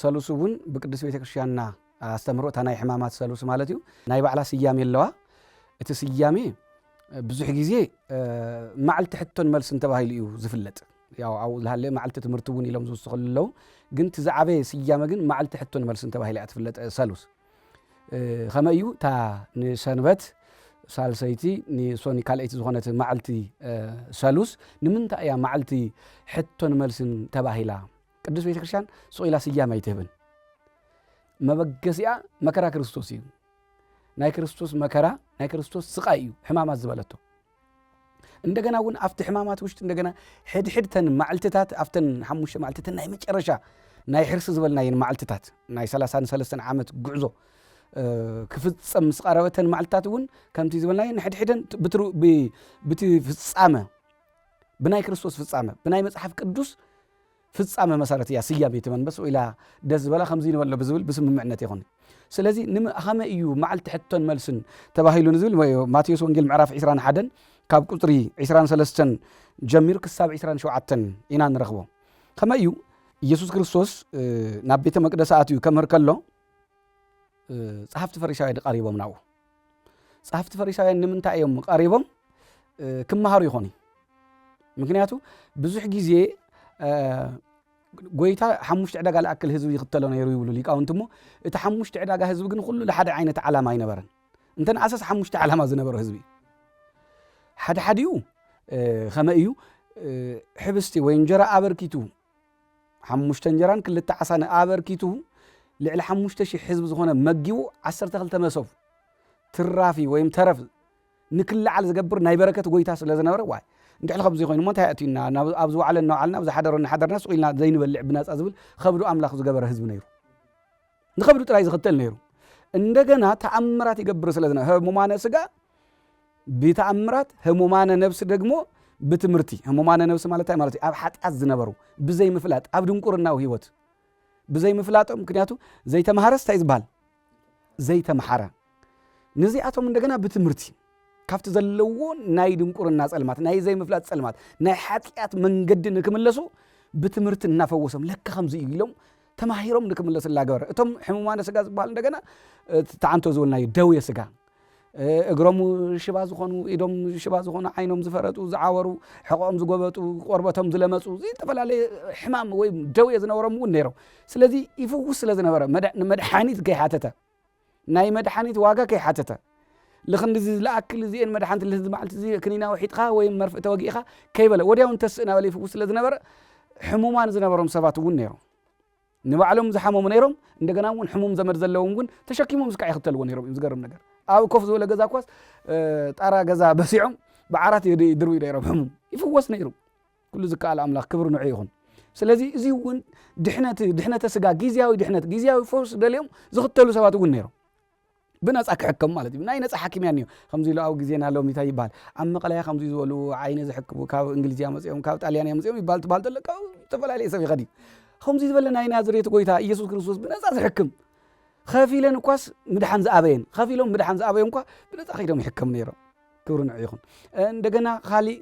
ሰሉስ እውን ብቅድስት ቤተ ክርስቲያንና ኣስተምህሮ እታ ናይ ሕማማት ሰሉስ ማለት እዩ ናይ ባዕላ ስያሜ ኣለዋ እቲ ስያሜ ብዙሕ ግዜ ማዕልቲ ሕቶን መልስን ተባሂሉ እዩ ዝፍለጥ ያው ኣብኡ ዝሃለ ማዕልቲ ትምህርቲ እውን ኢሎም ዝውስኸሉ ኣለዉ ግን እቲ ዝዓበየ ስያመ ግን ማዕልቲ ሕቶን መልስን ተባሂላ እያ ትፍለጥ ሰሉስ ከመ እዩ እታ ንሰንበት ሳልሰይቲ ንሶኒ ካልኣይቲ ዝኾነት ማዕልቲ ሰሉስ ንምንታይ እያ ማዕልቲ ሕቶን መልስን ተባሂላ ቅዱስ ቤተ ክርስቲያን ሱቕ ኢላ ስያም ኣይትህብን መበገሲኣ መከራ ክርስቶስ እዩ ናይ ክርስቶስ መከራ ናይ ክርስቶስ ስቃይ እዩ ሕማማት ዝበለቶ እንደገና እውን ኣብቲ ሕማማት ውሽጢ እንደገና ሕድሕድተን ማዕልትታት ኣብተን ሓሙሽተ ማዕልትተን ናይ መጨረሻ ናይ ሕርሲ ዝበልናየን ማዕልትታት ናይ ሰላሳን ሰለስተን ዓመት ጉዕዞ ክፍፀም ምስ ቀረበተን ማዕልትታት እውን ከምቲ ዝበልናየን ሕድሕደን ብቲ ፍፃመ ብናይ ክርስቶስ ፍፃመ ብናይ መፅሓፍ ቅዱስ ፍጻመ መሰረት እያ ስያሜ እቲ መንበስ ወኢላ ደስ ዝበላ ከምዚ ንበሎ ብዝብል ብስምምዕነት ይኹን ስለዚ ንመኸመ እዩ መዓልቲ ሕቶን መልስን ተባሂሉ ንዝብል ማቴዎስ ወንጌል ምዕራፍ 21 ካብ ቁፅሪ 23 ጀሚሩ ክሳብ 27 ኢና ንረኽቦ ከመ እዩ ኢየሱስ ክርስቶስ ናብ ቤተ መቅደስ ኣትዩ ከምህር ከሎ ጸሓፍቲ ፈሪሳውያን ቀሪቦም ናብኡ ጸሓፍቲ ፈሪሳውያን ንምንታይ እዮም ቀሪቦም ክመሃሩ ይኾኑ እዩ ምክንያቱ ብዙሕ ግዜ ጎይታ ሓሙሽተ ዕዳጋ ዝኣክል ህዝቢ ይኽተሎ ነይሩ ይብሉ ሊቃውንቲ እሞ እቲ ሓሙሽተ ዕዳጋ ህዝቢ ግን ኩሉ ንሓደ ዓይነት ዓላማ ኣይነበረን እንተ ንኣሰስ ሓሙሽተ ዓላማ ዝነበሮ ህዝቢ ሓደ ሓዲኡ ከመ እዩ ሕብስቲ ወይ እንጀራ ኣበርኪቱ ሓሙሽተ እንጀራን ክልተ ዓሳን ኣበርኪቱ ልዕሊ ሓሙሽተ ሽሕ ህዝቢ ዝኾነ መጊቡ ዓሰርተ ክልተ መሶብ ትራፊ ወይም ተረፍ ንክለዓል ዝገብር ናይ በረከት ጎይታ ስለ ዝነበረ ዋይ እንድሕሊ ከምዚ ኮይኑ እሞ እንታይ ኣእትዩና ኣብ ዝወዓለ እናወዓልና ኣብ ዝሓደሮ እናሓደርና ስቑኢልና ዘይንበልዕ ብናፃ ዝብል ከብዱ ኣምላኽ ዝገበረ ህዝቢ ነይሩ ንኸብዱ ጥራይ ዝኽተል ነይሩ እንደገና ተኣምራት ይገብር ስለዝነ ህሙማነ ስጋ ብተኣምራት ህሙማነ ነብሲ ደግሞ ብትምህርቲ ህሙማነ ነብሲ ማለት እንታይ ማለት እዩ ኣብ ሓጢኣት ዝነበሩ ብዘይ ምፍላጥ ኣብ ድንቁርናዊ ህይወት ብዘይ ምፍላጦም ምክንያቱ ዘይተምሃረስ እንታይ ዝበሃል ዘይተምሓረ ነዚኣቶም እንደገና ብትምህርቲ ካብቲ ዘለዎ ናይ ድንቁርና ጸልማት ናይ ዘይምፍላጥ ጸልማት ናይ ሓጢኣት መንገዲ ንክምለሱ ብትምህርቲ እናፈወሶም ለካ ከምዚ እዩ ኢሎም ተማሂሮም ንክምለሱ እናገበረ እቶም ሕሙማነ ስጋ ዝበሃል እንደገና ተዓንቶ ዝበልናዩ ደውየ ስጋ እግሮም ሽባ ዝኾኑ ኢዶም ሽባ ዝኾኑ ዓይኖም ዝፈረጡ ዝዓወሩ ሕቆኦም ዝጎበጡ ቆርበቶም ዝለመፁ ዝተፈላለየ ሕማም ወይም ደውየ ዝነበሮም እውን ነይሮም ስለዚ ይፍውስ ስለ ዝነበረ መድሓኒት ከይሓተተ ናይ መድሓኒት ዋጋ ከይሓተተ ልኽንድዚ ልኣክል እዚኤን መድሓኒት ልህዚ መዓልቲ እዚ ክኒና ውሒጥኻ ወይም መርፍእ ተወጊእኻ ከይበለ ወዲያው እንተስእ ናበለ ይፍውስ ስለ ዝነበረ ሕሙማን ዝነበሮም ሰባት እውን ነይሮም። ንባዕሎም ዝሓመሙ ነይሮም እንደገና እውን ሕሙም ዘመድ ዘለዎም እውን ተሸኪሞም እስካዕ ይኽተልዎ ነይሮም እዮም ዝገርም ነገር ኣብ ኮፍ ዝበለ ገዛ እኳስ ጣራ ገዛ በሲዖም ብዓራት ይድርብዩ ነይሮም ሕሙም ይፍወስ ነይሩ ኩሉ ዝከኣል ኣምላኽ ክብሪ ንዑ ይኹን። ስለዚ እዚ እውን ድሕነት ድሕነተ ስጋ ግዜያዊ ድሕነት ግዜያዊ ፈውስ ደልዮም ዝኽተሉ ሰባት እውን ነይሮም ብነፃ ክሕከሙ ማለት እዩ ናይ ነፃ ሓኪም እያ ከምዚ ኢሉ ኣብ ግዜና ሎሚ እንታይ ይበሃል ኣብ መቐለያ ከምዚ ዝበሉ ዓይነ ዝሕክሙ ካብ እንግሊዝ እያ መፅኦም ካብ ጣልያን እያ መፅኦም ይበሃል ትበሃል ተሎ ካብ ዝተፈላለየ ሰብ ይኸድ እዩ ከምዚ ዝበለ ናይ ናዝሬት ጎይታ ኢየሱስ ክርስቶስ ብነፃ ዝሕክም ከፊለን እኳስ ምድሓን ዝኣበየን ከፊሎም ምድሓን ዝኣበዮም እኳ ብነፃ ከይዶም ይሕከሙ ነይሮም ክብሪ ንዑ ይኹን። እንደገና ካሊእ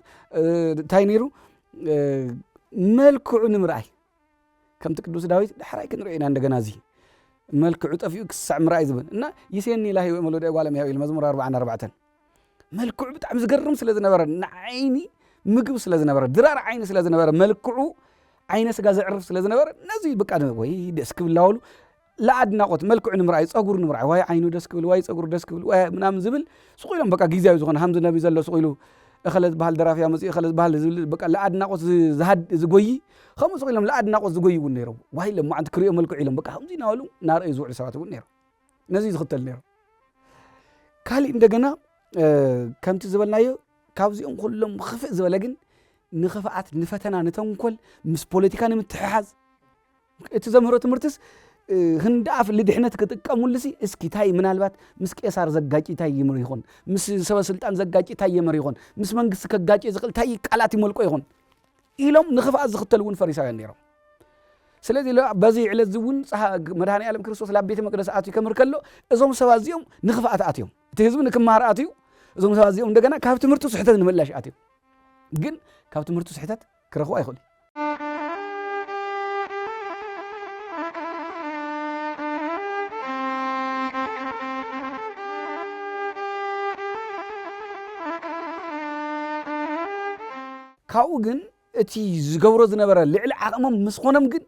እንታይ ነይሩ መልክዑ ንምርኣይ ከምቲ ቅዱስ ዳዊት ዳሕራይ ክንሪኦ ኢና እንደገና እዚ መልክዑ ጠፊኡ ክሳዕ ምርኣይ ዝብል እና ይሴኒ ላሂ ወመሎደ ጓለ እምሕያው ኢሉ መዝሙር ኣርባዓን ኣርባዕተን መልክዑ ብጣዕሚ ዝገርም ስለ ዝነበረ ንዓይኒ ምግብ ስለ ዝነበረ ድራር ዓይኒ ስለ ዝነበረ መልክዑ ዓይነ ስጋ ዘዕርፍ ስለ ዝነበረ ነዚ ብቃ ወይ ደስ ክብላወሉ ለኣድናቆት መልክዑ ንምርኣይ ፀጉሩ ንምርኣይ ዋይ ዓይኑ ደስ ክብል ዋይ ፀጉሩ ደስ ክብል ዋይ ምናምን ዝብል ስቁ ኢሎም በቃ ግዜያዊ ዝኾነ ሃምዚ ነቢ ዘሎ ስቁ ኢሉ እኸለ ዝበሃል ደራፊ ኣመፅኡ እኸለ ዝበሃል ዝብል በቃ ለኣድናቆት ዝጎይ ከምኡ ስቁ ኢሎም ለኣድናቆት ዝጎይ እውን ነይሮም ዋይ ለማዓንቲ ክሪኦ መልክዑ ኢሎም በቃ ከምዚ እናበሉ እናረእዩ ዝውዕሉ ሰባት እውን ነይሮም ነዚ ዝኽተል ነይሮም ካሊእ እንደገና ከምቲ ዝበልናዮ ካብዚኦም ኩሎም ክፍእ ዝበለ ግን ንክፍኣት ንፈተና ንተንኮል ምስ ፖለቲካ ንምትሕሓዝ እቲ ዘምህሮ ትምህርትስ ህንዳኣፍ ልድሕነት ክጥቀሙልሲ እስኪ ታይ ምናልባት ምስ ቄሳር ዘጋጭ ታይ ይምር ይኾን ምስ ሰበ ስልጣን ዘጋጭ ታይ የምር ይኾን ምስ መንግስቲ ከጋጭ ዝኽእል ታይ ቃላት ይመልቆ ይኾን ኢሎም ንኽፍኣት ዝኽተሉ እውን ፈሪሳውያን ነይሮም ስለዚ በዚ ዕለት እዚ እውን መድሃኒ ዓለም ክርስቶስ ላብ ቤተ መቅደስ ኣትዩ ከምር ከሎ እዞም ሰባት እዚኦም ንኽፍኣት ኣትዮም እቲ ህዝቢ ንክመሃር ኣትዩ እዞም ሰባት እዚኦም እንደገና ካብ ትምህርቱ ስሕተት ንምእላሽ ኣትዮም ግን ካብ ትምህርቱ ስሕተት ክረኽቦ ኣይኽእሉን። ካብኡ ግን እቲ ዝገብሮ ዝነበረ ልዕሊ ዓቕሞም ምስ ኾኖም ግን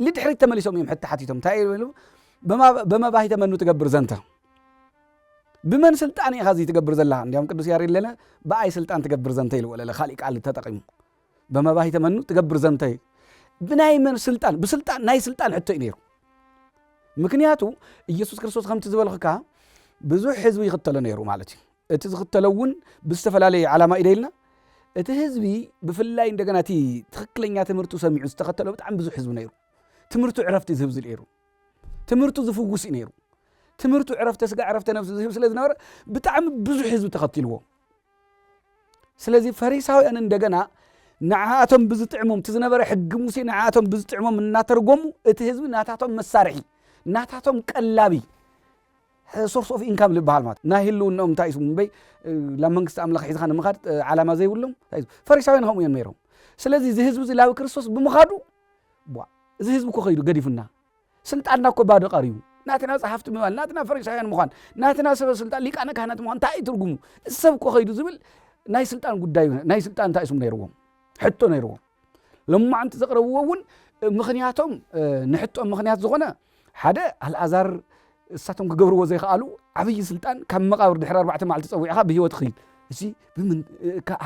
ልድሕሪት ተመሊሶም እዮም ሕቲ ሓቲቶም እንታይ ይብሉ በመባሂተ መኑ ትገብር ዘንተ ብመን ስልጣን ኢኻ እዚ ትገብር ዘላ እንዲም ቅዱስ ያሬድ ለለ ብኣይ ስልጣን ትገብር ዘንተ ኢልዎ ለለ ካሊእ ቃል ተጠቂሙ በመባሂተ መኑ ትገብር ዘንተ ብናይ መን ስልጣን ብስልጣን ናይ ስልጣን ሕቶ እዩ ነይሩ ምክንያቱ ኢየሱስ ክርስቶስ ከምቲ ዝበልክካ ብዙሕ ህዝቢ ይኽተሎ ነይሩ ማለት እዩ እቲ ዝኽተሎ እውን ብዝተፈላለየ ዓላማ እዩ ደይልና እቲ ህዝቢ ብፍላይ እንደገና እቲ ትኽክለኛ ትምህርቱ ሰሚዑ ዝተኸተሎ ብጣዕሚ ብዙሕ ህዝቢ ነይሩ ትምህርቱ ዕረፍቲ ዝህብ ዝልኤሩ ትምህርቱ ዝፍውስ እዩ ነይሩ ትምህርቱ ዕረፍተ ስጋ ዕረፍተ ነብሲ ዝህብ ስለ ዝነበረ ብጣዕሚ ብዙሕ ህዝቢ ተኸትልዎ ስለዚ ፈሪሳውያን እንደገና ንዓኣቶም ብዝጥዕሞም እቲ ዝነበረ ሕጊ ሙሴ ንዓኣቶም ብዝጥዕሞም እናተርጎሙ እቲ ህዝቢ ናታቶም መሳርሒ ናታቶም ቀላቢ ሶርስ ኦፍ ኢንካም ዝበሃል ማለት ናይ ህልውናኦም እንታይ እዩ እምበይ ናብ መንግስቲ ኣምላኽ ሒዝኻ ንምኻድ ዓላማ ዘይብሎም ፈሪሳውያን ከምኡ እዮም ነይሮም ስለዚ እዚ ህዝቢ እዚ ላዊ ክርስቶስ ብምኻዱ እዚ ህዝቢ እኮ ከይዱ ገዲፉና ስልጣንና እኮ ባዶ ቀርዩ ናትና ፀሓፍቲ ምባል ናትና ፈሪሳውያን ምዃን ናትና ሰበ ስልጣን ሊቃነ ካህናት ምዃን እንታይ እዩ ትርጉሙ እዚ ሰብ እኮ ከይዱ ዝብል ናይ ስልጣን ጉዳይ ናይ ስልጣን እንታይ ስም ነይርዎም ሕቶ ነይርዎም ሎማዕንቲ ዘቕረብዎ እውን ምኽንያቶም ንሕቶም ምኽንያት ዝኾነ ሓደ ኣልኣዛር እሳቶም ክገብርዎ ዘይከኣሉ ዓብዪ ስልጣን ካብ መቃብር ድሕሪ ኣርባዕተ መዓልቲ ፀዊዕኻ ብሂወት ኽይድ እዚ ብምን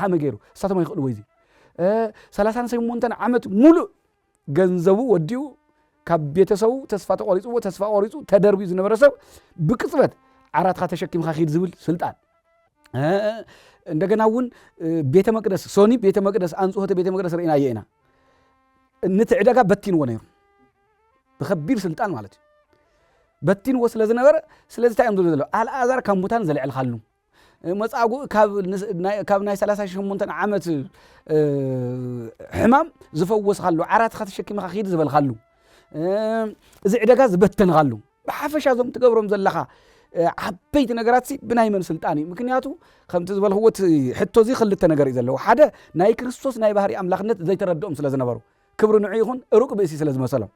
ሃመ ገይሩ እሳቶም ኣይኽእልዎ እዚ ሰላሳን ሰይሞንተን ዓመት ሙሉእ ገንዘቡ ወዲኡ ካብ ቤተሰቡ ተስፋ ተቆሪፅዎ ተስፋ ቆሪፁ ተደርብዩ ዝነበረ ሰብ ብቅፅበት ዓራትካ ተሸኪምካ ኪድ ዝብል ስልጣን እንደገና እውን ቤተ መቅደስ ሶኒ ቤተ መቅደስ ኣንጽሆተ ቤተ መቅደስ ርኢናዮ ኢና ንቲ ዕደጋ በቲንዎ ነይሩ ብከቢድ ስልጣን ማለት እዩ በቲንዎ ስለ ዝነበረ ስለዚ እንታይ እዮም ዝብሉ ዘለዉ ኣልኣዛር ካብ ሙታን ዘልዕልካሉ መፃጉእ ካብ ናይ 38 ዓመት ሕማም ዝፈወስካሉ ዓራትካ ተሸኪምካ ክድ ዝበልካሉ እዚ ዕደጋ ዝበተንኻሉ ብሓፈሻ እዞም ትገብሮም ዘለኻ ዓበይቲ ነገራት ብናይ መን ስልጣን እዩ ምክንያቱ ከምቲ ዝበልክዎ እቲ ሕቶ እዚ ክልተ ነገር እዩ ዘለዎ ሓደ ናይ ክርስቶስ ናይ ባህሪ ኣምላኽነት ዘይተረድኦም ስለ ዝነበሩ ክብሪ ንዑ ይኹን ሩቅ ብእሲ ስለ ዝመሰሎም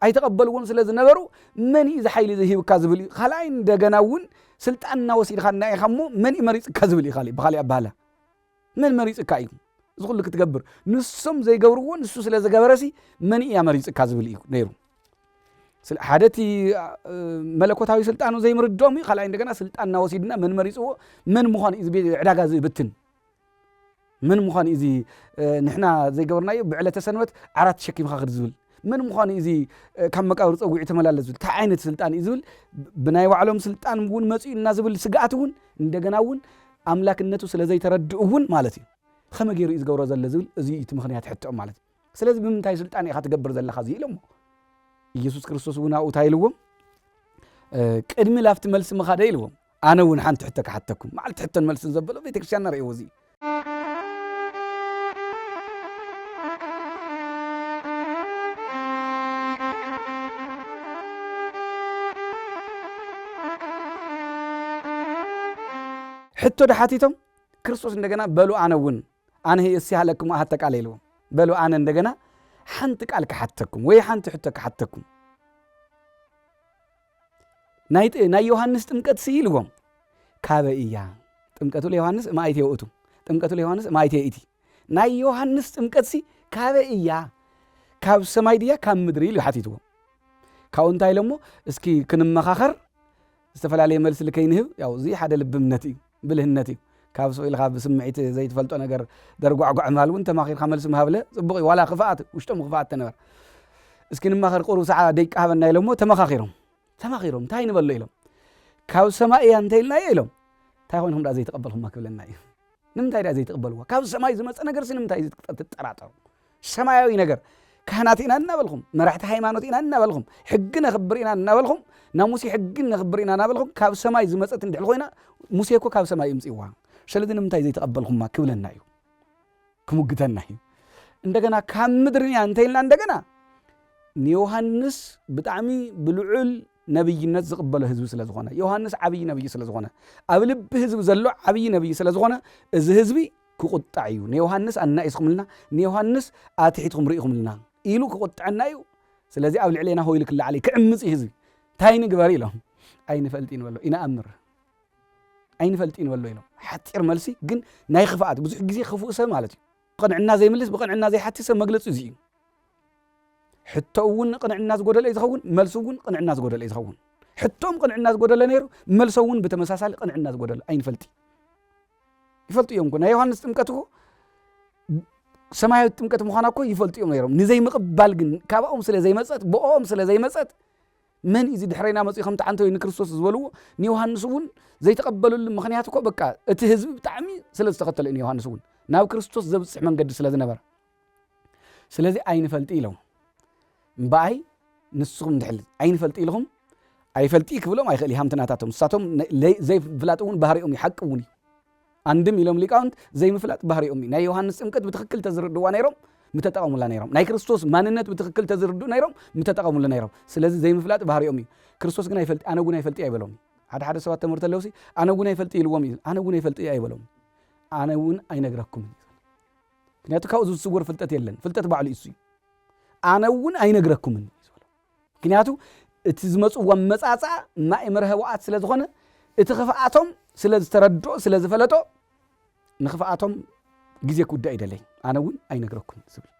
ኣይተቐበልዎን ስለ ዝነበሩ መን እዩ ዝሓይሊ ዝሂብካ ዝብል እዩ ካልኣይ እንደገና እውን ስልጣን እናወሲድካ እና ኢኻ እሞ መን እዩ መሪፅካ ዝብል እዩ ብካሊእ ኣባሃላ መን መሪጽካ እዩ እዚ ኩሉ ክትገብር? ንሶም ዘይገብርዎ ንሱ ስለ ዝገበረሲ መን እያ መሪጽካ ዝብል እዩ ነይሩ። ሓደ እቲ መለኮታዊ ስልጣኑ ዘይምርድኦም እዩ። ካልኣይ እንደገና ስልጣን እናወሲድና መን መሪፅዎ መን ምዃን እዩ ዕዳጋ ዝብትን መን ምዃን እዩ እዚ ንሕና ዘይገበርናዮ ብዕለተ ሰንበት ዓራት ተሸኪምካ ክድ ዝብል መን ምዃኑ እዚ ካብ መቃብር ፀጒዑ ተመላለስ ዝብል እንታይ ዓይነት ስልጣን እዩ ዝብል ብናይ ባዕሎም ስልጣን እውን መፅኡ እና ዝብል ስግኣት እውን እንደገና እውን ኣምላክነቱ ስለ ዘይተረድኡ እውን ማለት እዩ። ኸመይ ገይሩ እዩ ዝገብሮ ዘሎ ዝብል እዙይ እዩ እቲ ምኽንያት ሕቶኦም ማለት እዩ። ስለዚ ብምንታይ ስልጣን ኢኻ ትገብር ዘለኻ እዙይ ኢሎሞ ኢየሱስ ክርስቶስ እውን ኣብኡ እንታይ ኢልዎም ቅድሚ ላፍቲ መልሲ ምኻደ ኢልዎም ኣነ እውን ሓንቲ ሕቶ ክሓተኩም መዓልቲ ሕቶን መልስን ዘበሎ ቤተክርስትያንና ርእዎ እዚ ሕቶ ድሓቲቶም ክርስቶስ እንደገና በሉ ኣነ እውን ኣነ እስያ ለክሙ ኣሃተ ቃል ኢልዎም በሉ ኣነ እንደገና ሓንቲ ቃል ክሓተኩም ወይ ሓንቲ ሕቶ ክሓተኩም ናይ ዮሃንስ ጥምቀት ሲ ኢልዎም ካበ እያ ጥምቀቱ ለዮሃንስ እማይት የውእቱ ጥምቀቱ ለዮሃንስ እማይት የእቲ ናይ ዮሃንስ ጥምቀትሲ ካበይ እያ? ካብ ሰማይ ድያ ካብ ምድሪ ኢሉ ሓቲትዎ ካብኡ እንታይ ኢሎሞ እስኪ ክንመኻኸር ዝተፈላለየ መልሲ ልከይንህብ ያው እዚ ሓደ ልብምነት እዩ ብልህነት እዩ ካብ ሱቕ ኢልኻ ብስምዒት ዘይትፈልጦ ነገር ደርጓዕጓዕ ምባል እውን ተማኺርካ መልሲ ምሃብለ ፅቡቕ እዩ ዋላ ክፍኣት ውሽጦም ክፍኣት ተነበር እስኪ ንማኸር ቁሩብ ሰዓ ደቂ ሃበና ኢሎሞ ተመኻኺሮም ተማኺሮም እንታይ ንበሎ ኢሎም ካብ ሰማይ እያ እንተኢልናዮ ኢሎም እንታይ ኮይንኩም ደኣ ዘይተቐበልኩማ ክብለና እዩ ንምንታይ ድኣ ዘይትቕበልዎ? ካብ ሰማይ ዝመጸ ነገርሲ ንምንታይ ትጠራጠሩ? ሰማያዊ ነገር ካህናት ኢና እናበልኹም መራሕቲ ሃይማኖት ኢና እናበልኹም ሕጊ ነኽብር ኢና እናበልኹም ናብ ሙሴ ሕጊ ነኽብር ኢና እናበልኹም ካብ ሰማይ ዝመጸት እንድሕር ኮይና ሙሴ እኮ ካብ ሰማይ እምጽዋ ስለዚ ንምንታይ ዘይተቐበልኹማ ክብለና እዩ ክሙግተና እዩ እንደገና ካብ ምድርንያ እንተይልና እንደገና ንዮሃንስ ብጣዕሚ ብልዑል ነብይነት ዝቕበሎ ህዝቢ ስለ ዝኾነ፣ ዮሃንስ ዓብዪ ነብዪ ስለ ዝኾነ፣ ኣብ ልቢ ህዝቢ ዘሎ ዓብዪ ነብዪ ስለ ዝኾነ፣ እዚ ህዝቢ ክቑጣዕ እዩ። ንዮሃንስ ኣናኢስኹምልና፣ ንዮሃንስ ኣትሒትኩም ርኢኹምልና ኢሉ ክቑጥዐና እዩ። ስለዚ ኣብ ልዕሌና ሆይሉ ክለዓል እዩ፣ ክዕምፅ እዩ ህዝቢ። እንታይ ንግበር ኢሎም ኣይንፈልጢን በሎ ይንኣምር ኣይንፈልጢን በሎ ኢሎም ሓፂር መልሲ ግን ናይ ክፍኣት ብዙሕ ግዜ ክፉእ ሰብ ማለት እዩ ቅንዕና ዘይምልስ ብቅንዕና ዘይሓቲ ሰብ መግለፂ እዚ እዩ ሕቶ እውን ቅንዕና ዝጎደለ እዩ ዝኸውን፣ መልሱ እውን ቅንዕና ዝጎደለ እዩ ዝኸውን። ሕቶም ቅንዕና ዝጎደለ ነይሩ፣ መልሶም እውን ብተመሳሳሊ ቅንዕና ዝጎደለ ኣይንፈልጢ ይፈልጡ እዮም እኮ ናይ ዮሃንስ ጥምቀት እኮ ሰማያዊት ጥምቀት ምዃና እኮ ይፈልጡ እዮም ነይሮም። ንዘይምቕባል ግን ካባኦም ስለ ዘይመፀት ብኦም ስለ ዘይመፀት መን እዚ ድሕረና መፅኡ ከም ተዓንተው ንክርስቶስ ዝበልዎ ንዮሃንስ እውን ዘይተቐበልሉ ምክንያት እኮ በቃ እቲ ህዝቢ ብጣዕሚ ስለ ዝተኸተለ እዩ ንዮሃንስ እውን ናብ ክርስቶስ ዘብፅሕ መንገዲ ስለ ዝነበረ ስለዚ ኣይንፈልጥ ኢሎም እምበኣይ ንስኹም ድሕል ኣይንፈልጥ ኢልኹም ኣይፈልጥ ክብሎም ኣይኽእል ሃምቲ ናታቶም ንሳቶም ዘይፍላጥ እውን ባህሪኦም እዩ ሓቂ እውን እዩ ኣንድም ኢሎም ሊቃውንት ዘይምፍላጥ ባህሪኦም እዩ ናይ ዮሃንስ ጥምቀት ብትክክል ተዝርድዋ ነይሮም ምተጠቐሙላ ነይሮም ናይ ክርስቶስ ማንነት ብትክክል ተዝርድኡ ነይሮም ምተጠቐሙሉ ነይሮም ስለዚ ዘይምፍላጥ ባህሪኦም እዩ ክርስቶስ ግን ኣይፈልጥ ኣነ እውን ኣይፈልጥ ኣይበሎም ሓደ ሓደ ሰባት ተምህርቲ ኣለውሲ ኣነ እውን ኣይፈልጥ ኢልዎም እዩ ኣነ እውን ኣይፈልጥ ኣይበሎም ኣነ እውን ኣይነግረኩምን እዩ ምክንያቱ ካብኡ ዝስወር ፍልጠት የለን ፍልጠት ባዕሉ እሱ እዩ ኣነ እውን ኣይነግረኩምን እዩ ዝበሎ ምክንያቱ እቲ ዝመፅዎ መፃፃ ማይ መርሀ ውኣት ስለ ዝኾነ እቲ ክፍኣቶም ስለ ዝተረድኦ ስለ ዝፈለጦ ንክፍኣቶም ግዜ ክውዳእ ይደለይ ኣነ እውን ኣይነግረኩምን ዝብል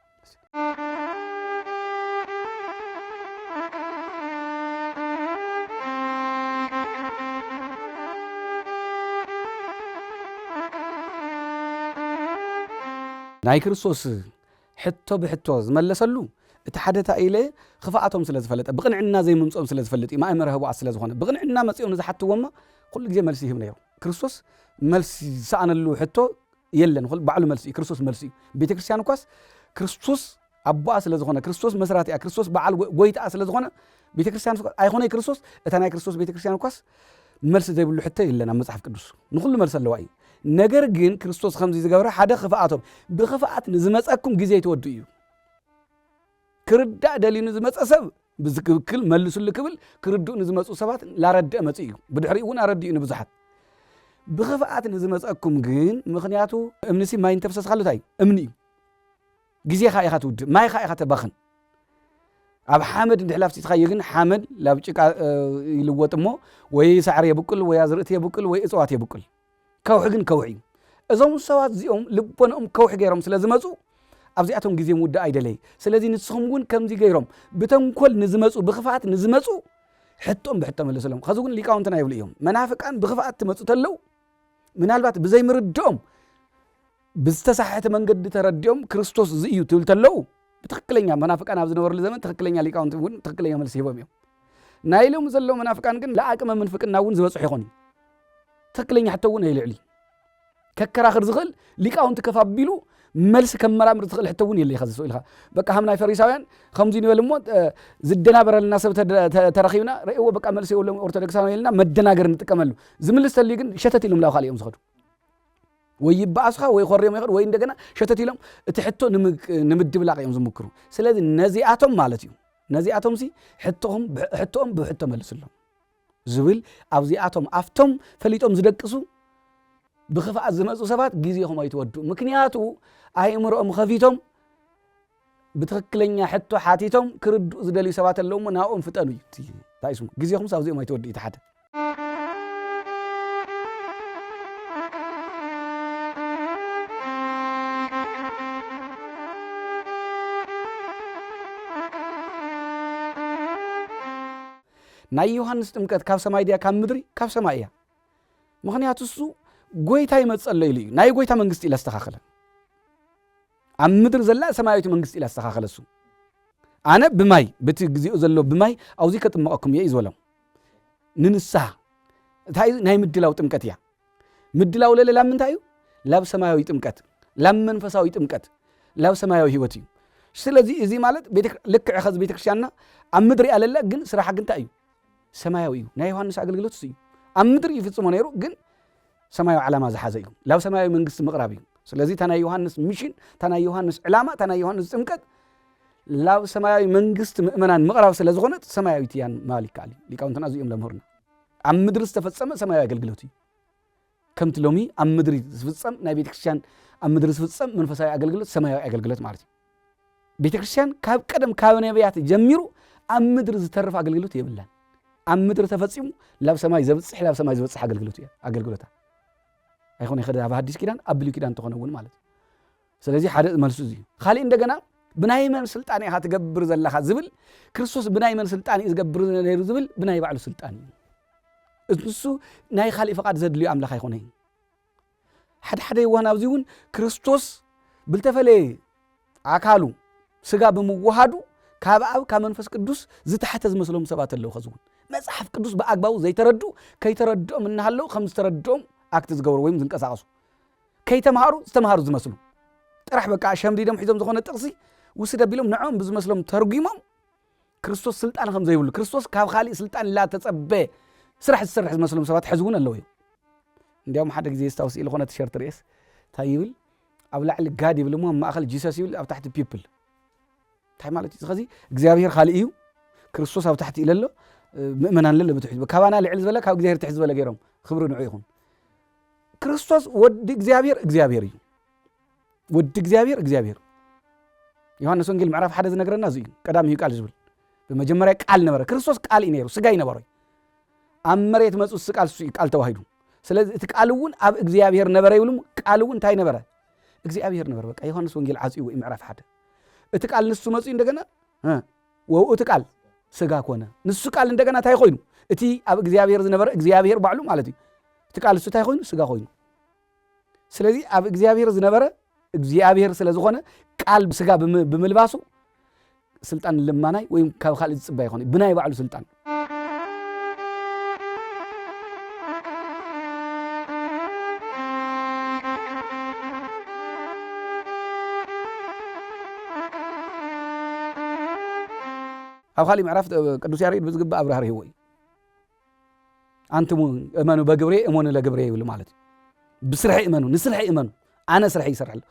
ናይ ክርስቶስ ሕቶ ብሕቶ ዝመለሰሉ እቲ ሓደታ ኢለ ክፍኣቶም ስለ ዝፈለጠ ብቕንዕና ዘይምምፅኦም ስለ ዝፈልጥ እዩ ማእመረ ህቡኣት ስለ ዝኾነ ብቕንዕና መፂኦም ንዝሓትዎማ ኩሉ ግዜ መልሲ ይህብ ነይሩ ክርስቶስ መልሲ ዝሰኣነሉ ሕቶ የለን ኹል ባዕሉ መልሱ እዩ ክርስቶስ መልሱ እዩ ቤተ ክርስቲያን እኳስ ክርስቶስ ኣቦኣ ስለ ዝኾነ ክርስቶስ መስራቲኣ ክርስቶስ በዓል ጎይታኣ ስለ ዝኾነ ቤተ ክርስቲያን ኣይኾነ ክርስቶስ እታ ናይ ክርስቶስ ቤተ ክርስቲያን እኳስ መልሲ ዘይብሉ ሕቶ የለን ኣብ መጽሓፍ ቅዱስ ንኹሉ መልሲ ኣለዋ እዩ ነገር ግን ክርስቶስ ከምዚ ዝገብረ ሓደ ክፍኣቶም ብክፍኣት ንዝመፀኩም ግዜ ይትወዱ እዩ ክርዳእ ደልዩ ንዝመፀ ሰብ ብዝክክል መልሱሊ ክብል ክርድኡ ንዝመጽኡ ሰባት ላረድእ መጽእ እዩ። ብድሕሪኡ እውን ኣረዲኡ ንብዙሓት። ብክፍኣት ንዝመጸኩም ግን ምክንያቱ እምኒሲ ማይ እንተፍሰስካሉ እንታይ እዩ? እምኒ እዩ። ግዜኻ ኢኻ ትውድእ፣ ማይኻ ኢኻ ተባኽን። ኣብ ሓመድ እንድሕር ኣፍሲስኻዮ ግን ሓመድ ላብ ጭቃ ይልወጥ እሞ ወይ ሳዕሪ የብቅል ወይ ኣዝርእቲ የብቅል ወይ እፅዋት የብቅል ከውሒ ግን ከውሒ እዩ። እዞም ሰባት እዚኦም ልቦንኦም ከውሒ ገይሮም ስለ ዝመፁ ኣብዚኣቶም ግዜ ምውዳእ ኣይደለይ። ስለዚ ንስኹም እውን ከምዚ ገይሮም ብተንኮል ንዝመፁ ብክፍኣት ንዝመፁ ሕቶም ብሕቶ መለሰሎም። ከዚ እውን ሊቃውንትና ይብሉ እዮም መናፍቃን ብክፍኣት ትመፁ ተለው ምናልባት ብዘይምርድኦም ብዝተሳሕሐተ መንገዲ ተረዲኦም ክርስቶስ እዚ እዩ ትብል ተለው ብትክክለኛ መናፍቃን ኣብ ዝነበርሉ ዘመን ትክክለኛ ሊቃውንቲ እውን ትክክለኛ መልሲ ሂቦም እዮም ናይ ሎም ዘለው መናፍቃን ግን ለኣቅመ ምንፍቅና እውን ዝበፅሑ ይኾን እዩ ትክክለኛ ሕቶ እውን ኣይልዕል እዩ ከከራኽር ዝኽእል ሊቃውንቲ ከፍ ኣቢሉ መልሲ ከመራምር ዝኽእል ሕቶ እውን የለ ከዚ ኢልካ በቃ ከም ናይ ፈሪሳውያን ከምዚ ንበል እሞ ዝደናበረልና ሰብ ተረኺብና ርእዎ በቃ መልሲ የብሎም ኦርቶዶክሳውያን ኢልና መደናገር ንጥቀመሉ ዝምልስ ተልዩ ግን ሸተት ኢሎም ላው ካልእ እዮም ዝኸዱ ወይ ይበኣሱኻ ወይ ኾርዮም ይኸዱ ወይ እንደገና ሸተት ኢሎም እቲ ሕቶ ንምድብላቕ እዮም ዝምክሩ ስለዚ ነዚኣቶም ማለት እዩ ነዚኣቶም ሲ ሕቶኦም ብሕቶ መልስሎም ዝብል ኣብዚኣቶም ኣብቶም ፈሊጦም ዝደቅሱ ብክፍኣት ዝመፁ ሰባት ግዜኹም ኣይትወድኡ ምክንያቱ ኣይእምሮኦም ኸፊቶም ብትክክለኛ ሕቶ ሓቲቶም ክርድኡ ዝደልዩ ሰባት ኣለዉ እሞ ናብኦም ፍጠኑ እዩ እቲ እንታይ ስሙ ግዜኹምስ ኣብዚኦም ኣይተወድኡ እቲ ሓደ ናይ ዮሃንስ ጥምቀት ካብ ሰማይ ድያ ካብ ምድሪ ካብ ሰማይ እያ ምክንያቱ እሱ ጎይታ ይመፀሎ ኢሉ እዩ ናይ ጎይታ መንግስቲ ኢለ ኣስተካክለ ኣብ ምድር ዘላ ሰማያዊት መንግስቲ ኢላ ዝተኻኸለሱ ኣነ ብማይ በቲ ግዜኡ ዘሎ ብማይ ኣውዚ ከጥምቐኩም እየ እዩ ዝበሎም ንንስሓ እንታይ እዩ ናይ ምድላው ጥምቀት እያ ምድላው ለለ ላብ ምንታይ እዩ ላብ ሰማያዊ ጥምቀት ላብ መንፈሳዊ ጥምቀት ላብ ሰማያዊ ህይወት እዩ ስለዚ እዚ ማለት ልክዕ ኸዚ ቤተክርስትያንና ኣብ ምድሪ እያ ለላ ግን ስራሓ ግን እንታይ እዩ ሰማያዊ እዩ ናይ ዮሃንስ ኣገልግሎት እዩ ኣብ ምድሪ ይፍፅሞ ነይሩ ግን ሰማያዊ ዓላማ ዝሓዘ እዩ። ላብ ሰማያዊ መንግስቲ ምቕራብ እዩ። ስለዚ እታ ናይ ዮሃንስ ሚሽን፣ እታ ናይ ዮሃንስ ዕላማ፣ እታ ናይ ዮሃንስ ጥምቀት ላብ ሰማያዊ መንግስቲ ምእመናን ምቕራብ ስለ ዝኾነት ሰማያዊት እያ ምባል ይከኣል እዩ። ሊቃውንትና እዚኦም ለምህሩና ኣብ ምድሪ ዝተፈጸመ ሰማያዊ ኣገልግሎት እዩ። ከምቲ ሎሚ ኣብ ምድሪ ዝፍጸም ናይ ቤተ ክርስቲያን ኣብ ምድሪ ዝፍጸም መንፈሳዊ ኣገልግሎት ሰማያዊ ኣገልግሎት ማለት እዩ። ቤተ ክርስቲያን ካብ ቀደም ካብ ነቢያት ጀሚሩ ኣብ ምድሪ ዝተርፍ ኣገልግሎት የብላን ኣብ ምድሪ ተፈፂሙ ላብ ሰማይ ዘብፅሕ ላብ ሰማይ ዝበፅሕ ኣገልግሎት እዩ ኣገልግሎታ ኣይኮነ ይኸደ ኣብ ሓዲስ ኪዳን ኣብ ብሉይ ኪዳን ተኾነ እውን ማለት እዩ ስለዚ ሓደ መልሱ እዚ እዩ ካሊእ እንደገና ብናይ መን ስልጣን ኢኻ ትገብር ዘለኻ ዝብል ክርስቶስ ብናይ መን ስልጣን እዩ ዝገብር ነይሩ ዝብል ብናይ ባዕሉ ስልጣን እዩ እሱ ናይ ካሊእ ፍቓድ ዘድልዩ ኣምላኽ ኣይኮነ እዩ ሓድሓደ የዋን ኣብዚ እውን ክርስቶስ ብልተፈለየ ኣካሉ ስጋ ብምውሃዱ ካብ ኣብ ካብ መንፈስ ቅዱስ ዝተሓተ ዝመስሎም ሰባት ኣለዉ ከዚ እውን መፅሓፍ ቅዱስ ብኣግባቡ ዘይተረዱ ከይተረድኦም እናሃለዉ ከም ዝተረድኦም ኣክቲ ዝገብሩ ወይም ዝንቀሳቀሱ ከይተምሃሩ ዝተምሃሩ ዝመስሉ ጥራሕ በቃ ሸምዲዶም ሒዞም ዝኾነ ጥቕሲ ውስድ ኣቢሎም ንዕኦም ብዝመስሎም ተርጒሞም ክርስቶስ ስልጣን ከም ዘይብሉ ክርስቶስ ካብ ካሊእ ስልጣን ላተጸበ ስራሕ ዝሰርሕ ዝመስሎም ሰባት ሕዚ እውን ኣለዉ እዮም እንዲያውም ሓደ ግዜ ስታውስ ኢሉ ኮነ ቲሸርት ርኤስ እንታይ ይብል ኣብ ላዕሊ ጋድ ይብል እሞ ኣብ ማእኸል ጂሰስ ይብል ኣብ ታሕቲ ፒፕል እንታይ ማለት እዩ ከዚ እግዚኣብሄር ካልእ እዩ ክርስቶስ ኣብ ታሕቲ ኢለሎ ምእመናን ለለ ብትሕት ካባና ልዕሊ ዝበለ ካብ እግዚኣብሄር ትሕት ዝበለ ገይሮም ክብሪ ንዑ ይኹን ክርስቶስ ወዲ እግዚኣብሄር እግዚኣብሄር እዩ ወዲ እግዚኣብሔር እግዚኣብሔር ዮሐንስ ወንጌል ምዕራፍ ሓደ ዝነገረና እዚ እዩ ቀዳሚ እዩ ቃል ዝብል ብመጀመርያ ቃል ነበረ ክርስቶስ ቃል እዩ ነይሩ ስጋ ይነበረ ኣብ መሬት መፁ ስ ቃል ሱ ቃል ተዋሂዱ ስለዚ እቲ ቃል እውን ኣብ እግዚኣብሔር ነበረ ይብሉ ቃል እውን እንታይ ነበረ እግዚኣብሔር ነበረ በቃ ዮሐንስ ወንጌል ዓፅኡ እዩ ምዕራፍ ሓደ እቲ ቃል ንሱ መፁ እንደገና ወብኡ እቲ ቃል ስጋ ኮነ ንሱ ቃል እንደገና እንታይ ኮይኑ እቲ ኣብ እግዚኣብሔር ዝነበረ እግዚኣብሔር ባዕሉ ማለት እዩ እቲ ቃል ንሱ እንታይ ኮይኑ ስጋ ኮይኑ ስለዚ ኣብ እግዚኣብሔር ዝነበረ እግዚኣብሔር ስለ ዝኾነ ቃል ስጋ ብምልባሱ ስልጣን ልማናይ ወይም ካብ ካልእ ዝፅበ ይኾነ ብናይ ባዕሉ ስልጣን ኣብ ካሊእ ምዕራፍ ቅዱስ ያሬድ ብዝግባእ ኣብራህሪህዎ እዩ ኣንትሙ እመኑ በግብሬ እመኑ ለግብሬ ይብሉ ማለት እዩ ብስርሐ እመኑ ንስርሐ እመኑ ኣነ ስርሐ ይሰርሐ ኣሎ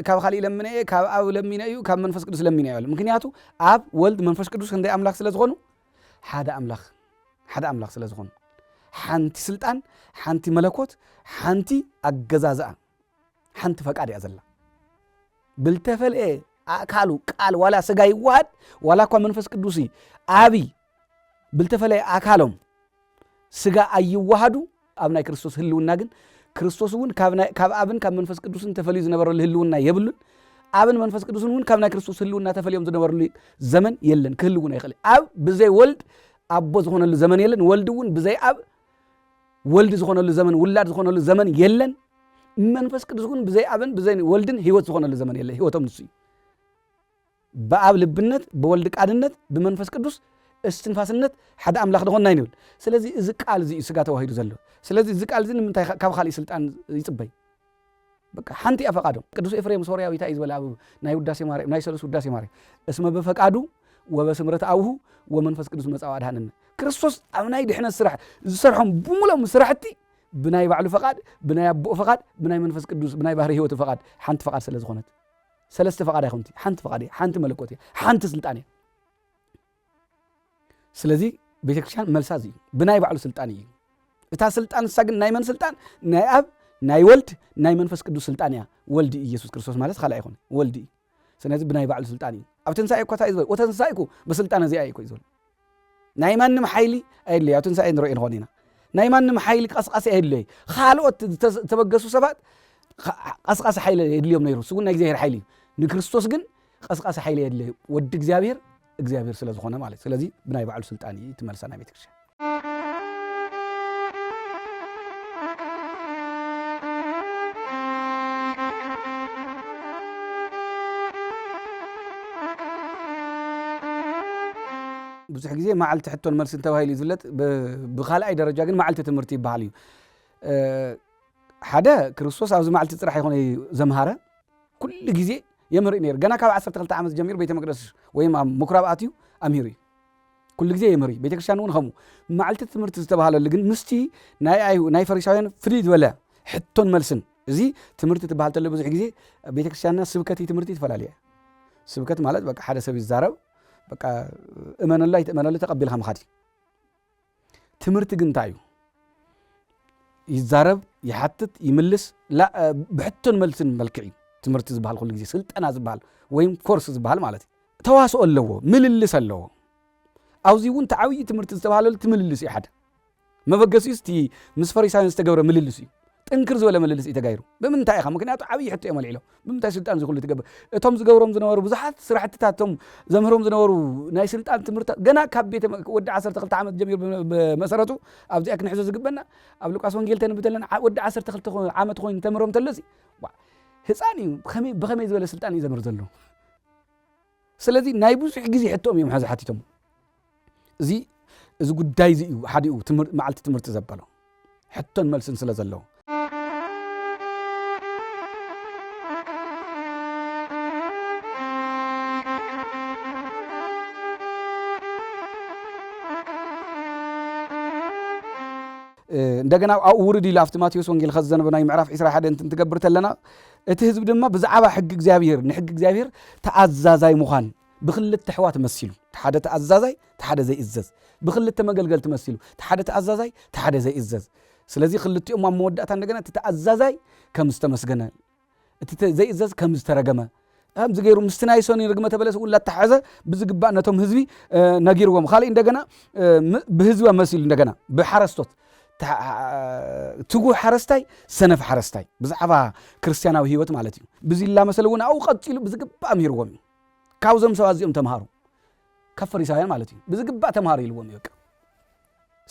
ካብ ካሊእ ለምነ እየ ካብ ኣብ ለሚነ እዩ ካብ መንፈስ ቅዱስ ለሚነ እዩ ምክንያቱ ኣብ ወልድ መንፈስ ቅዱስ ክንደይ ኣምላኽ ስለ ዝኾኑ ሓደ ኣምላኽ ሓደ ኣምላኽ ስለ ዝኾኑ ሓንቲ ስልጣን ሓንቲ መለኮት ሓንቲ ኣገዛዝኣ ሓንቲ ፈቃድ እያ ዘላ ብልተፈልኤ ኣእካሉ ቃል ዋላ ስጋ ይዋሃድ ዋላ እኳ መንፈስ ቅዱስ ዓቢ ብልተፈለየ ኣካሎም ስጋ ኣይዋሃዱ ኣብ ናይ ክርስቶስ ህልውና ግን ክርስቶስ እውን ካብ ኣብን ካብ መንፈስ ቅዱስን ተፈልዩ ዝነበረሉ ህልውና የብሉን ኣብን መንፈስ ቅዱስን እውን ካብ ናይ ክርስቶስ ህልውና ተፈልዮም ዝነበረሉ ዘመን የለን ክህልውን ኣይኽእል ኣብ ብዘይ ወልድ ኣቦ ዝኾነሉ ዘመን የለን ወልድ እውን ብዘይ ኣብ ወልድ ዝኾነሉ ዘመን ውላድ ዝኾነሉ ዘመን የለን መንፈስ ቅዱስ እውን ብዘይ ኣብን ብዘይ ወልድን ህይወት ዝኾነሉ ዘመን የለ ህይወቶም ንሱ እዩ ብኣብ ልብነት ብወልድ ቃልነት ብመንፈስ ቅዱስ እስትንፋስነት ሓደ ኣምላኽ ድኾንና ይንብል ስለዚ እዚ ቃል እዚ እዩ ስጋ ተዋሂዱ ዘሎ ስለዚ እዚ ቃል እዚ ንምንታይ ካብ ካልእ ስልጣን ይፅበይ በቃ ሓንቲያ ፈቃዶም ቅዱስ ኤፍሬም ሶርያዊ እንታይ እዩ ዝበለ ኣብ ናይ ውዳሴ ማርያም ናይ ሰሉስ ውዳሴ ማርያም እስመ በፈቃዱ ወበስምረት ኣብሁ ወመንፈስ ቅዱስ መጻው ኣድሃነነ ክርስቶስ ኣብ ናይ ድሕነት ስራሕ ዝሰርሖም ብሙሎም ስራሕቲ ብናይ ባዕሉ ፈቃድ ብናይ ኣቦኡ ፈቃድ ብናይ መንፈስ ቅዱስ ብናይ ባህሪ ህይወቱ ፈቃድ ሓንቲ ፈቃድ ስለ ዝኾነት ሰለስተ ፈቃድ ኣይኮንቲ ሓንቲ ፈቃድ እያ ሓንቲ መለኮት እያ ሓንቲ ስልጣን እያ ስለዚ ቤተክርስትያን መልሳ እዩ ብናይ ባዕሉ ስልጣን እዩ እታ ስልጣን ንሳ ግን ናይ መን ስልጣን ናይ ኣብ ናይ ወልድ ናይ መንፈስ ቅዱስ ስልጣን እያ ወልድ ኢየሱስ ክርስቶስ ማለት ካልእ ኣይኮነ ወልድ እዩ ስለዚ ብናይ ባዕሉ ስልጣን እዩ ኣብ ትንሳኤ እኳ እንታይ እዩ ዝበል ወተንሳኤኩ ብስልጣን እዚኣ እዩ ዝበል ናይ ማንም ሓይሊ ኣየድለይ ኣብ ትንሳኤ ንሪኦ ንኾን ኢና ናይ ማንም ሓይሊ ቀስቃሲ ኣየድለይ ካልኦት ዝተበገሱ ሰባት ቀስቃሲ ሓይሊ የድልዮም ነይሩ እሱ ግን ናይ እግዚኣብሔር ሓይሊ እዩ ንክርስቶስ ግን ቐስቃሲ ሓይሊ የድልይ ወዲ እግዚኣብሔር እግዚኣብሔር ስለ ዝኾነ ማለት እዩ። ስለዚ ብናይ ባዕሉ ስልጣን እዩ እቲ መልሳ ናይ ቤተ ክርስቲያን። ብዙሕ ግዜ መዓልቲ ሕቶን መልስን ተባሂሉ እዩ ዝፍለጥ። ብ- ብካልኣይ ደረጃ ግን መዓልቲ ትምህርቲ ይበሃል እዩ። እ፣ ሓደ ክርስቶስ ኣብዚ መዓልቲ ጥራሕ ይኾነ ዘምሃረ ኩሉ ግዜ የምህር ነይሩ ገና ካብ 12 ዓመት ጀሚሩ ቤተ መቅደስ ወይም ኣብ ምኩራብ ኣትዩ ኣምሂሩ እዩ ኩሉ ግዜ የምህር እዩ ቤተ ክርስቲያን እውን ከምኡ መዓልቲ ትምህርቲ ዝተባሃለሉ ግን ምስቲ ናይ ኣይ ናይ ፈሪሳውያን ፍልይ ዝበለ ሕቶን መልስን እዚ ትምህርቲ ትበሃል ተሎ ብዙሕ ግዜ ቤተ ክርስቲያንና ስብከት ትምህርቲ ትፈላለየ ስብከት ማለት በቃ ሓደ ሰብ ይዛረብ በቃ እመነሉ ኣይትእመነሉ ተቐቢልካ ምኻድ እዩ ትምህርቲ ግን እንታይ እዩ ይዛረብ ይሓትት ይምልስ ብሕቶን መልስን መልክዕ እዩ ትምህርቲ ዝበሃል ኩሉ ግዜ ስልጠና ዝበሃል ወይም ኮርስ ዝበሃል ማለት እዩ ተዋስኦ ኣለዎ ምልልስ ኣለዎ ኣብዚ እውን እቲ ዓብዪ ትምህርቲ ዝተባሃለሉ እቲ ምልልስ እዩ ሓደ መበገሲኡ እቲ ምስ ፈሪሳውያን ዝተገብረ ምልልስ እዩ ጥንክር ዝበለ ምልልስ እዩ ተጋይሩ። ብምንታይ ኢኻ? ምክንያቱ ዓብዪ ሕቶ እዮም ኣልዒሎም። ብምንታይ ስልጣን እዚ ኩሉ ትገብር? እቶም ዝገብሮም ዝነበሩ ብዙሓት ስራሕትታት እቶም ዘምህሮም ዝነበሩ ናይ ስልጣን ትምህርትታት ገና ካብ ቤተ ወዲ ዓሰርተ ክልተ ዓመት ጀሚሩ ብመሰረቱ ኣብዚኣ ክንሕዞ ዝግበና ኣብ ሉቃስ ወንጌል ተንብብ ተለና ወዲ ዓሰርተ ክልተ ዓመት ኮይኑ ተምህሮም ተሎሲ ህፃን እዩ ብኸመይ ዝበለ ስልጣን እዩ ዘምህር ዘሎ ስለዚ ናይ ብዙሕ ግዜ ሕቶኦም እዮም ሐዚ ሓቲቶሞ። እዚ እዚ ጉዳይ እዚ እዩ ሓዲኡ መዓልቲ ትምህርቲ ዘበሎ ሕቶን መልስን ስለ ዘለዎ። እንደገና ኣብኡ ውርድ ኢሉ ኣብቲ ማቴዎስ ወንጌል ኸዚ ዘነበናዩ ምዕራፍ ዒስራ ሓደን እንትንትገብር ተለና እቲ ህዝቢ ድማ ብዛዕባ ሕጊ እግዚኣብሔር ንሕጊ እግዚኣብሔር ተኣዛዛይ ምዃን ብክልተ ኣሕዋት መሲሉ ተሓደ ተኣዛዛይ ተሓደ ዘይእዘዝ ብክልተ መገልገልቲ መሲሉ ተሓደ ተኣዛዛይ ተሓደ ዘይእዘዝ ስለዚ ክልቲኦም ኣብ መወዳእታ እንደገና እቲ ተኣዛዛይ ከም ዝተመስገነ እቲ ዘይእዘዝ ከም ዝተረገመ ከምዚ ገይሩ ምስቲ ናይ ሰኒ ርግመተ በለስ እውን ላተሓዘ ብዝግባእ ነቶም ህዝቢ ነጊርዎም ካልእ እንደገና ብህዝቢ መሲሉ እንደገና ብሓረስቶት ትጉህ ሓረስታይ ሰነፍ ሓረስታይ ብዛዕባ ክርስትያናዊ ህይወት ማለት እዩ ብዝላመሰለ እውን ኣብኡ ቀፂሉ ብዝግባእ ምሂርዎም እዩ ካብዞም ሰባት እዚኦም ተምሃሩ ካብ ፈሪሳውያን ማለት እዩ ብዝግባእ ተምሃሩ ኢልዎም እዩ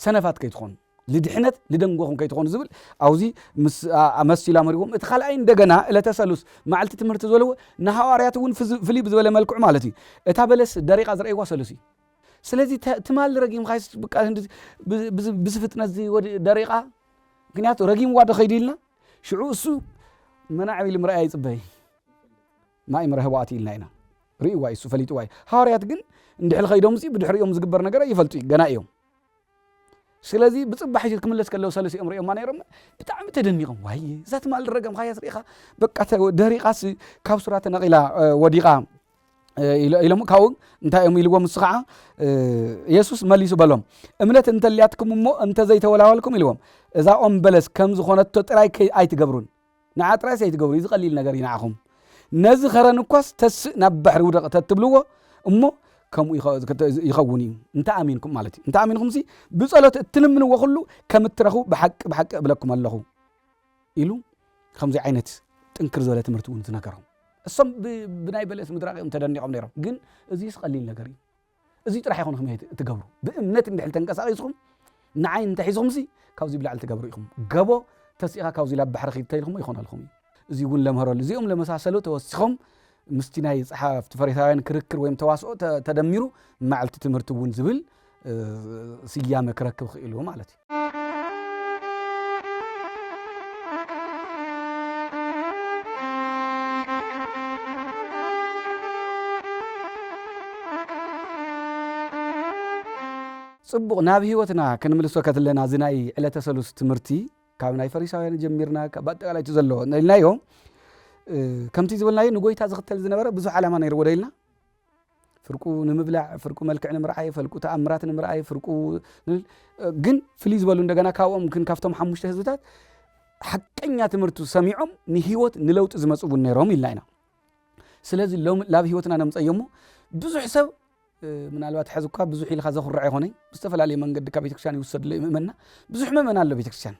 ሰነፋት ከይትኾኑ ልድሕነት ልደንጎኹም ከይትኾኑ ዝብል ኣብዚ መሲላ መሪዎም እቲ ካልኣይ እንደገና እለተ ሰሉስ መዓልቲ ትምህርቲ ዝበልዎ ንሃዋርያት እውን ፍልይ ብዝበለ መልክዑ ማለት እዩ እታ በለስ ደሪቃ ዝረእይዋ ሰሉስ እዩ ስለዚ ትማሊ ረጊምካይስ ብቃ ብዚ ፍጥነት ደሪቓ ምክንያቱ ረጊምዋ ዶ ከይዱ ኢልና ሽዑ እሱ መናዕ ኢሉ ምርኣያ ይፅበይ ማይ ምረህባኣት ኢልና ኢና ርእዋ እሱ ፈሊጥዋ እዩ ሃዋርያት ግን እንድሕል ከይዶም ሲ ብድሕሪኦም ዝግበር ነገር ኣይፈልጡ እዩ ገና እዮም ስለዚ ብጽባሕ ሒዙ ክምለስ ከለዉ ሰለሲኦም ርእዮማ ነይሮም ብጣዕሚ ተደኒቖም ዋይ እዛ ትማል ረገምካያስ ርኢኻ በቃ ደሪቓስ ካብ ሱራ ተነቒላ ወዲቓ ኢሎም ካብኡ እንታይ እዮም ኢልዎም ምስ ከዓ የሱስ መሊሱ በሎም እምነት እንተልያትኩም እሞ እንተዘይተወላወልኩም ኢልዎም እዛ ኦም በለስ ከም ዝኾነቶ ጥራይ ኣይትገብሩን ንዓ ጥራይስ ኣይትገብሩ ኢዚ ቀሊል ነገር ኢዩ ንዓኹም ነዚ ከረን እኳስ ተስእ ናብ ባሕሪ ውደቕ ተትብልዎ እሞ ከምኡ ይኸውን ኢዩ እንተ ኣሚንኩም ማለት ኢዩ እንተ ኣሚንኹምሲ ብጸሎት እትልምንዎ ኩሉ ከም እትረኽቡ ብሓቂ ብሓቂ እብለኩም ኣለኹ ኢሉ ከምዚ ዓይነት ጥንክር ዝበለ ትምህርቲ እውን ዝነገሮም እሶም ብናይ በለስ ምድራቕ እዮም ተደኒቖም ነይሮም ግን እዚስ ቀሊል ነገር እዩ እዙይ ጥራሕ ይኹን ኢኹም እትገብሩ። ብእምነት እንድሕር ተንቀሳቒስኹም ንዓይ እንተሒዝኹምሲ ካብዙይ ብላዕሊ ትገብሩ ኢኹም። ገቦ ተሲእኻ ካብዙይ ላብ ባሕሪ ኺድ ተኢልኹሞ ይኾነልኹም እዩ። እዙይ እውን ለምህረሉ። እዚኦም ለመሳሰሉ ተወሲኾም ምስቲ ናይ ጸሓፍቲ ፈሪሳውያን ክርክር ወይም ተዋስኦ ተደሚሩ መዓልቲ ትምህርቲ እውን ዝብል ስያመ ክረክብ ኽኢሉ ማለት እዩ። ጽቡቕ ናብ ህይወትና ክንምልሶ ከትለና እዚ ናይ ዕለተ ሰሉስ ትምህርቲ ካብ ናይ ፈሪሳውያን ጀሚርና ካብ ኣጠቃላይ እቲ ዘለዎ ኢልናዮ ከምቲ ዝበልናዮ ንጎይታ ዝኽተል ዝነበረ ብዙሕ ዓላማ ነይርዎ ዶ ኢልና ፍርቁ ንምብላዕ ፍርቁ መልክዕ ንምርኣይ ፈልቁ ተኣምራት ንምርኣይ ፍርቁ ግን ፍልይ ዝበሉ እንደገና ካብኦም ግን ካብቶም ሓሙሽተ ህዝብታት ሓቀኛ ትምህርቱ ሰሚዖም ንህይወት ንለውጢ ዝመፁ እውን ነይሮም ኢልና ኢና ስለዚ ሎም ላብ ህይወትና ነምፀዮ እሞ ብዙሕ ሰብ ምናልባት ሕዚ እኳ ብዙሕ ኢልካ ዘኹርዕ ይኾነይ ብዝተፈላለየ መንገዲ ካብ ቤተክርስትያን ይውሰድሎ ይምእመና ብዙሕ ምእመና ኣሎ ቤተክርስትያን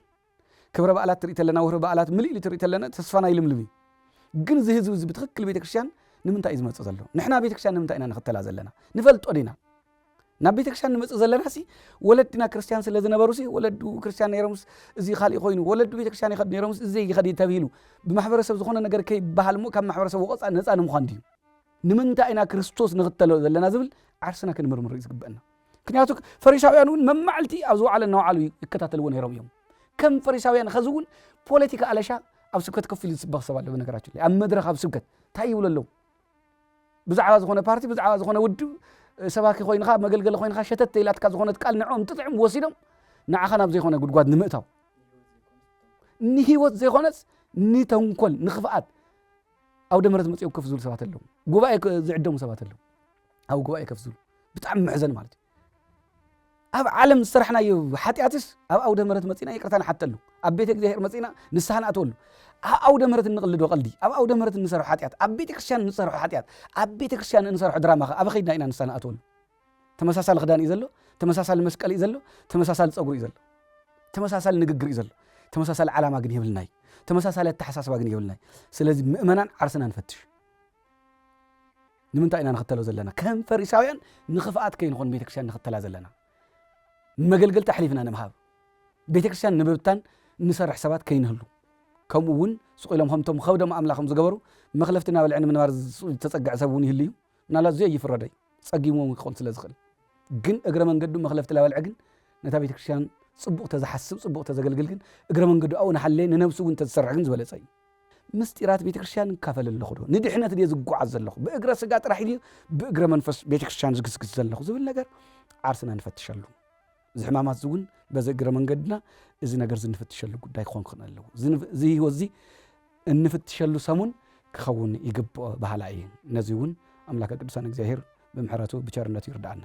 ክብረ በዓላት ትርኢ ተለና ወርሒ በዓላት ምልእ ኢሉ ትርኢ ተለና ተስፋና ይልምልም እዩ ግን እዚ ህዝቢ እዚ ብትክክል ቤተክርስትያን ንምንታይ እዩ ዝመፅእ ዘሎ ንሕና ቤተክርስትያን ንምንታይ ኢና ንኽተላ ዘለና ንፈልጦ ዲና ናብ ቤተክርስትያን ንመፅእ ዘለና ሲ ወለድና ክርስትያን ስለ ዝነበሩ ሲ ወለዱ ክርስትያን ነይሮምስ እዚ ካሊእ ኮይኑ ወለዱ ቤተክርስትያን ይኸዱ ነይሮምስ እዚ ይኸድ ተብሂሉ ብማሕበረሰብ ዝኾነ ነገር ከይበሃል እሞ ካብ ማሕበረሰብ ወቐፃ ነፃ ንምዃን ድዩ ንምንታይ ኢና ክርስቶስ ንኽተሎ ዘለና ዝብል ዓርስና ክንምርምር እዩ ዝግበአና ምክንያቱ ፈሪሳውያን እውን መማዕልቲ ኣብ ዝወዓለ እናወዓሉ ይከታተልዎ ነይሮም እዮም ከም ፈሪሳውያን ኸዚ እውን ፖለቲካ ኣለሻ ኣብ ስብከት ከፍ ኢሉ ዝስበኽ ሰብ ኣሎ በነገራችን ላይ ኣብ መድረኽ ኣብ ስብከት እንታይ ይብሉ ኣለዉ ብዛዕባ ዝኾነ ፓርቲ ብዛዕባ ዝኾነ ውድብ ሰባኪ ኮይንኻ መገልገሊ ኮይንኻ ሸተት ኢላትካ ዝኾነት ቃል ንዕኦም ትጥዕም ወሲዶም ንዓኻ ናብ ዘይኮነ ጉድጓድ ንምእታው ንህይወት ዘይኮነስ ንተንኮል ንክፍኣት ኣብ ደመረት መፅኦም ከፍ ዝብሉ ሰባት ኣለዉ ጉባኤ ዝዕደሙ ሰባት ኣለዉ ኣብ ጉባኤ ከፍ ዝብሉ ብጣዕሚ መሕዘኒ ማለት እዩ። ኣብ ዓለም ዝሰራሕናዮ ሓጢኣትስ ኣብ ኣውደ ምሕረት መፂና ይቅርታ ንሓተሉ፣ ኣብ ቤተ እግዚኣብሔር መፂና ንስሓ ንኣትወሉ። ኣብ ኣውደ ምሕረት እንቕልዶ ቀልዲ፣ ኣብ ኣውደ ምሕረት እንሰርሖ ሓጢኣት፣ ኣብ ቤተ ክርስቲያን እንሰርሖ ሓጢኣት፣ ኣብ ቤተ ክርስቲያን እንሰርሖ ድራማ ከ ኣብ ከይድና ኢና ንስሓ ንኣትወሉ። ተመሳሳሊ ክዳን እዩ ዘሎ፣ ተመሳሳሊ መስቀል እዩ ዘሎ፣ ተመሳሳሊ ፀጉሪ እዩ ዘሎ፣ ተመሳሳሊ ንግግር እዩ ዘሎ። ተመሳሳሊ ዓላማ ግን የብልናይ፣ ተመሳሳሊ ኣተሓሳስባ ግን የብልናይ። ስለዚ ምእመናን ዓርስና ንፈትሽ። ንምንታይ ኢና ንኽተሎ ዘለና? ከም ፈሪሳውያን ንኽፍኣት ከይንኾን ንቤተ ክርስቲያን ንኽተላ ዘለና። ንመገልገልቲ ኣሕሊፍና ንምሃብ፣ ቤተ ክርስቲያን ንምብታን ንሰርሕ ሰባት ከይንህሉ፣ ከምኡ እውን ስቕ ኢሎም ከምቶም ኸብዶም ኣምላኾም ዝገበሩ መኽለፍቲ እናበልዐ ንምንባር ዝተጸግዐ ሰብ እውን ይህሉ እዩ። ምናልባት እዚ ኣይፍረዶ እዩ፣ ጸጊምዎም እውን ክኾን ስለ ዝኽእል። ግን እግረ መንገዱ መኽለፍቲ ላበልዐ ግን ነታ ቤተ ክርስቲያን ጽቡቕ ተዝሓስብ ጽቡቕ ተዘገልግል ግን እግረ መንገዱ ኣብኡ እናሓለየ ንነብሱ እውን ተዝሰርሕ ግን ዝበለጸ እዩ። ምሥጢራት ቤተክርስትያን እካፈል ኣለኹዶ? ንድኅነት ድየ ዝጓዓዝ ዘለኹ? ብእግረ ሥጋ ጥራሕ ድየ ብእግረ መንፈስ ቤተክርስትያን ዝግስግስ ዘለኹ? ዝብል ነገር ዓርስና ንፈትሸሉ። እዚ ሕማማት እውን በዚ እግረ መንገድና እዚ ነገር እዚ እንፍትሸሉ ጉዳይ ክኾን ክኽእል ኣለዎ። እዚ ህይወት እዚ እንፍትሸሉ ሰሙን ክኸውን ይግብኦ በሃላይ እየ። ነዚ እውን ኣምላከ ቅዱሳን እግዚኣብሔር ብምሕረቱ ብቸርነቱ ይርዳእና።